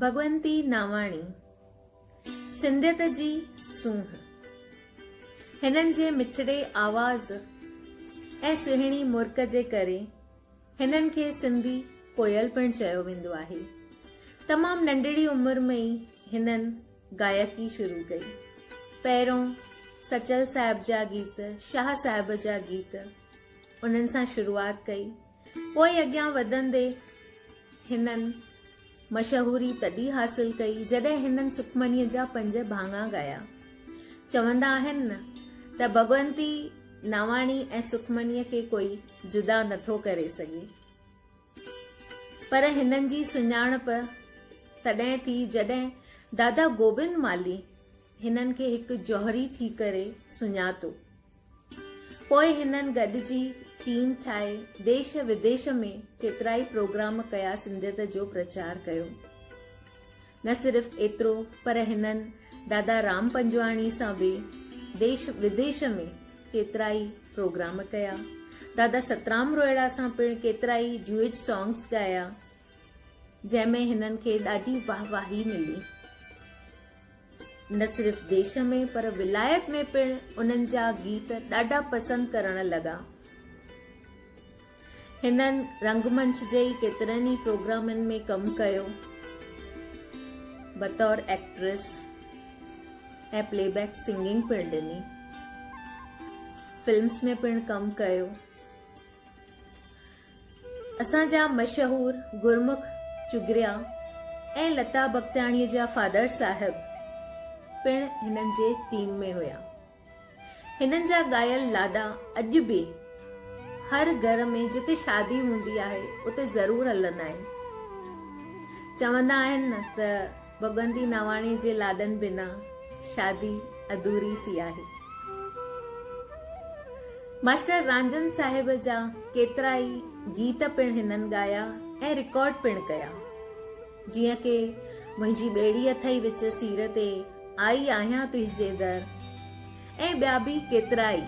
ڀڳونتي ناواڻي سنڌيت جي سونهن هنن جي مٺڙي آواز ۽ سهڻي مرڪ جي ڪري هنن کي سنڌي ڪوئل پڻ چيو ويندو آهي تمام ننڍڙي عمر ۾ ئي هنن گائڪي شروع ڪئي پهريون سچل صاحب جا گيت شاهه صاحب جا گيت انهن سان شروعات ڪئي، پوء اڳيان وڌندي هنن مشهوري تڏهن حاصل ڪئي، جڏهن هنن سکمنيء جا پنج ڀاڱا ڳايا. چوندا آهن نه ته ڀڳونتي ناواڻي ۽ سکمنيء کي ڪوئي جدا نٿو ڪري سگهي. پر هنن جي سڃاڻپ تڏهن ٿي، جڏهن دادا گوبند مالهي هنن کي هڪ جوهري ٿي ڪري سڃاتو. پوء هنن گڏجي ٽيم ٺاهي ديش وديش ۾ ڪيترائي پروگرام ڪيا سنڌيت جو پرچار ڪيو. نه صرف ايترو پر هنن دادا رام پنجواڻي سان به ديش وديش ۾ ڪيترائي پروگرام ڪيا. دادا سترام روهيڙا سان پڻ ڪيترائي ڊيوئٽ سانگس ڳايا جنهن ۾ هنن کي ڏاڍي واهه واهي ملي. نه صرف ديش ۾ پر ولايت ۾ پڻ انهن جا گيت ڏاڍا پسند ڪرڻ لڳا. هنن رنگمنچ جي ڪيترن ئي پروگرامن ۾ ڪم ڪيو بطور ايڪٽريس ۽ پلي بيڪ سنگنگ پڻ ڏني. فلمس ۾ پڻ ڪم ڪيو. اسان جا مشهور گرمک چگريا ۽ لتا بختياڻيء جا فادر صاحب پڻ هنن جي ٽيم ۾ هيا. هنن جا ڳايل لاڏا اڄ به هر گهر ۾ جتي شادي هوندي آهي اتي ضرور هلندا آهن. چوندا آهن نه ته. ڀڳوندي نواڻي جي لاڏن بنا شادي اڌوري سي آهي. ماسٽر رانجن صاحب جا ڪيترا ئي گيت پڻ هنن ڳايا ۽ رڪارڊ پڻ ڪيا. جيئن ڪي منهنجي ٻيڙي اٿئي وچ سير تي، آئي آهيان تنهنجي در ۽ ٻيا به ڪيترا ئي.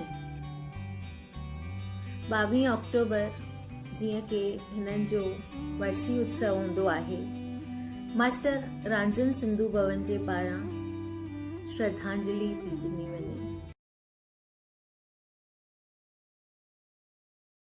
ٻاوهين آڪٽوبر جيئن ڪي هنن جو ورسي اتسو هوندو آهي، ماسٽر رانجن سنڌو ڀون جي پاران شرڌانجلي پي ڏني وڃي.